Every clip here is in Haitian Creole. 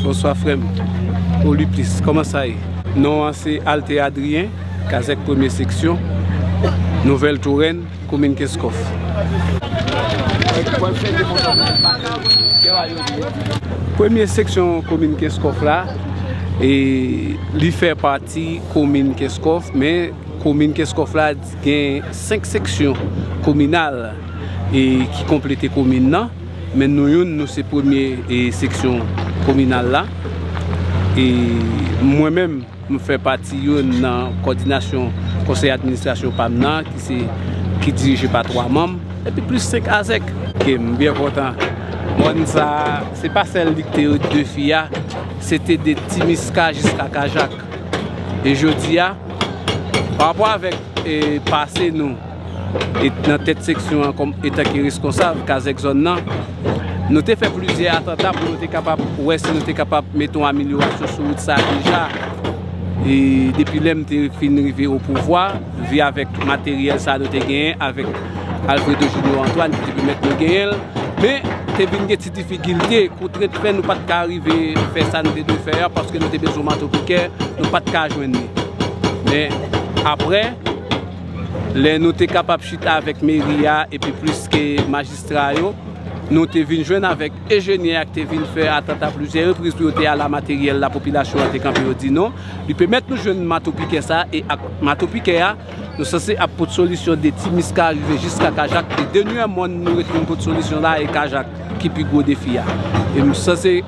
Bonswa frèm O li plis Koman sa ye? Non an se Alte Adrien Kazèk premye seksyon Nouvèl Torèn komin Kenskòf. Premye seksyon komin Kenskòf la e li fè pati komin Kenskòf men komin Kenskòf la gen 5 seksyon kominal. e ki konplete komin nan men nou youn nou se premye e seksyon kominal la e mwen menm m fè pati youn nan kòdinasyon konsèy administrasyon pam nan ki se ki dirije pa 3 manm epi plis 5 azèk. Ok m byen kontan mòn sa se pa sèl li ki te yo 2 fi a se te de timiska jiska kajak e jodi a pa rapò avèk e pase nou. nan tèt seksyon an kòm etan ki reskonsab kazèk zòn nan, nou te fè plizyè atanta pou nou te kapab wè si nou te kapab mete yon amelyorasyon sou wout sa a deja. E depi lè m te fin rive o pouvwa, vi avèk materyèl sa a nou te genyen avèk Alfredo Junior Antoine ki te pèmèt nou genyen l. Men, te vin gen ti difikilte, kontrent fè nou pa t ka rive fè sa nou te dwe fè a paske nou te bezwen mato pikè, nou pa t ka jwenn li. Men, apre. Lè nou te kapab chita avèk meri a epi plis ke majistra yo, nou te vin jwenn avèk ejenyè a ki te vin fè atant a plizyè repriz pou yo te ala materyèl la popilasyon an te kanpe yo di non. Li pèmèt nou jwenn mato pikè sa a e ak mato pikè a nou sanse ap pot solisyon de ti miska rive jiska kajak e denyè mòn nou ret vin pot solisyon la e kajak ki pi gwo defi a e m sanse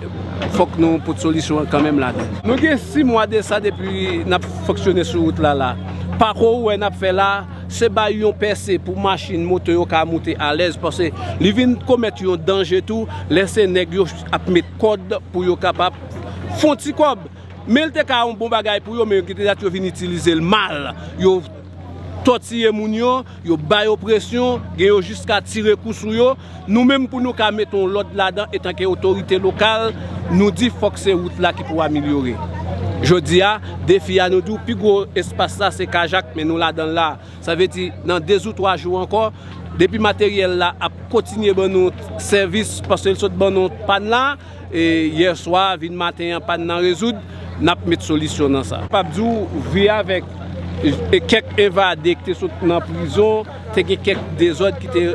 fòk nou pot solisyon an kanmenm ladan. Nou gen 6 mwa de sa depi n ap fonksyone sou wout la la. Pako ou wè nap fè la, se bay yon pèse pou machin, moto yo ka moute alèz pase li vin komèt yon danje tou lè se nèg yo ap met kòd pou yo kapab fon ti kòb. Men li te ka yon bon bagay pou yo men yo gen te dat yo vin itilize l mal, yo tòtiye moun yo. Yo ba yo presyon, gen yo jiska tire kou sou yo. Nou menm pou nou ka mete yon lòd ladan etanke otorite lokal, nou di fòk se wout la ki pou amelyore. Jodi a, defi a nou di w pi gwo espas la se Kajak men nou ladan l la. Sa vle di nan dezoutwa jou ankò, depi materyèl la ap kontinye ban nou sèvis paske l sot ban nou pàn la, E yèswa vin maten an pann nan rezoud, nap met solisyon nan sa. Pap di w wi avèk kèk evade ki te sot nan prizon, te gen kèk dezòd ki te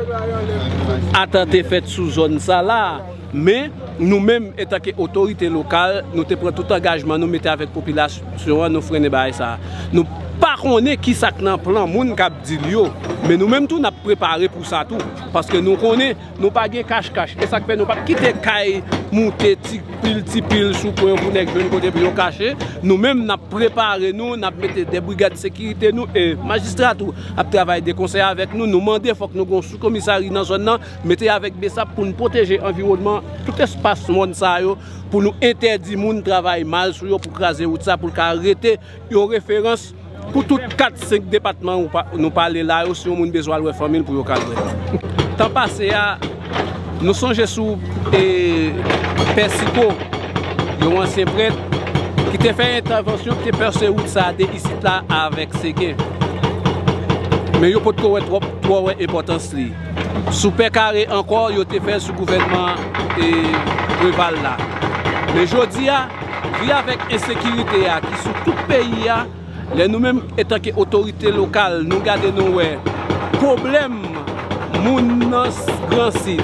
atante fèt sou zòn sa la. Men, nou menm etanke otorite lokal, nou te pran tout angajman nou mete avèk popilasyon an, nou frennen bagay sa. Nou pa konnen ki sa k nan plan moun kap di l yo. Men nou menm tou nap prepare pou sa tou. Paske nou konnen. Nou pa gen kach kach. E sak fè nou pap kite kay moute ti pil ti pil sou kwen pou nèg jwenn kote pou yo kache. Nou menm nap prepare nou, nap mete 2 brigad sekirite nou e majistra tou ap travay de konsè avèk nou. Nou mande fòk nou gon sou komisari nan zòn nan mete avèk besap pou nou pwoteje anviwònman tout espas mòn sa yo pou nou entèdi moun travay mal sou yo pou kraze wout sa pou l ka rete. Yon referans pou tout 4, 5 depatman nou pale la yo si yon moun bezwen al wè fanmi l pou yo ka al wè li. Tan pase a, nou sonje sou Pè Siko, yon ansyen prèt, ki te fè entèvansyon, ki te pèse wout sa a de isit la avèk Segen. Men yo potko wè twòp, twò wè enpòtans li. sou pè kare ankò yo te fè sou gouvènman Preval la. Men jodi a, vi avèk ensekirite a ki sou tout peyi a, lè nou menm etanke otorite lokal nou gade nou wè pwoblèm moun nan Gran Sid,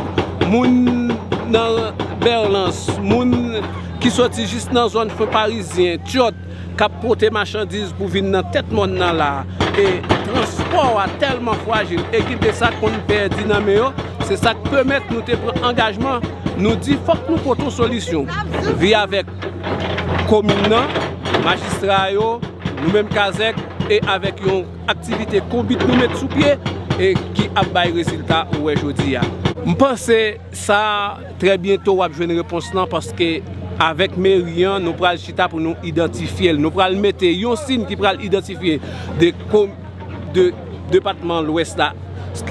moun nan Berlans, moun ki soti jis nan zòn Fon Parizyen, Tyòt, k ap pote machandiz pou vin nan tèt mòn nan la a, e transpò a tèlman frajil e gen de sa k konn pèdi nan men yo, se sa k pèmèt nou te pran angajman, nou di fòk nou pote yon solisyon. Vi avèk komin nan, majistra yo, nou menm kazèk, e avèk yon aktivite konbit nou met sou pye, e ki ap bay rezilta ou wè jodi a. M panse Sa trè byento wap jwenn repons lan paske avèk meri an nou pral chita pou nou idantifyel. Nou pral mete yon sin ki pral idantifye de depatman lwès la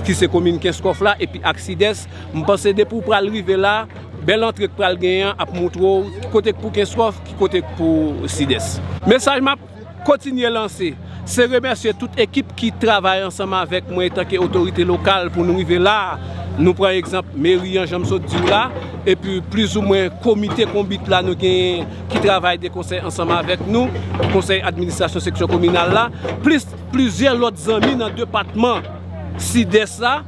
ki se komin kenskof la epi ak sidès. M panse depi w pral rive la bèl antre k pral genyen an ap moutre w ki kote k pou kenskof ki kote k pou sidès. Mesaj map Kontinye lanse. Se remèsye tout ekip ki travay ansanm avèk mwen etanke otorite lokal pou nou rive la a. Nou pran egzanp meri an jan m sot di w la, epi plizoumwen komite konbit la nou genyen ki travay de konsè ansanm avèk nou, konsèy administrasyon seksyon kominal la, plis plizyè lòt zanmi nan depatman Sidès la.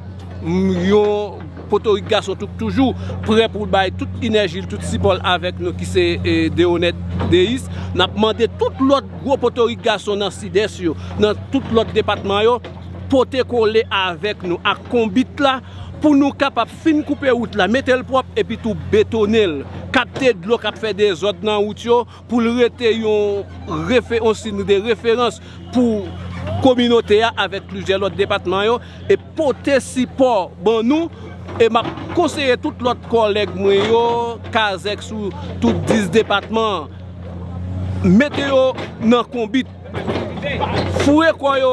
Yon potorik gason tou k toujou prè pou l bay tout inèji l, tout sipò l avèk nou ki se Deonèt Deyis. N ap mande tout lòt gwo potorik gason nan Sidès yo, nan tout lòt depatman yo pote kole avèk nou ak konbit la pou nou kapab fin koupe wout la, mete l pwòp epitou betone l, kapte dlo k ap fè dezòd nan wout yo pou l rete yon signe de referans pou kominote a avèk plizyè lòt depatman yo e pote sipò ban nou e m ap konseye tout lòt kòlèg mwen yo kazèk sou tout 10 depatman mete yo nan konbit foure kò yo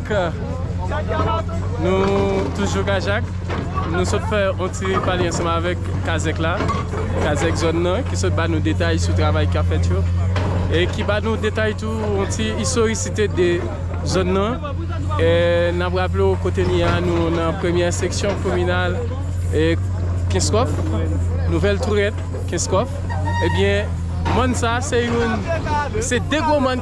Nou toujou kajak Nou sot fè yon ti pale ansanm avèk kazèk la Kazèk zòn nan ki sot ba nou detay sou travay kap fèt yo E ki ba nou detay tou yon ti istorisite de zòn nan E nap raple w kote n ye a nou nan premyè seksyon kominal Kenskòf Nouvèl Tourèt Kenskòf Ebyen mòn sa se yon se de gwo mòn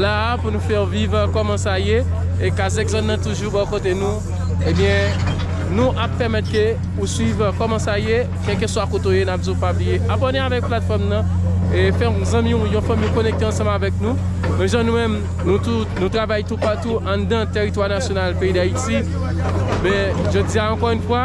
la a pou nou fè w viv kòman sa ye e kazèk zòn nan toujou bò kote nou ebyen nou ap pèmèt ke ou swiv kòman sa ye kèlkeswa kote w ye n ap di w pa bliye abòne avèk platfòm nan e fè yon zanmi w yon fanmi w konekte ansanm avèk nou men jan nou menm nou tou nou travay toupatou anndan tèritwa nasyonal peyi dayiti men jodi a ankò yn fwa.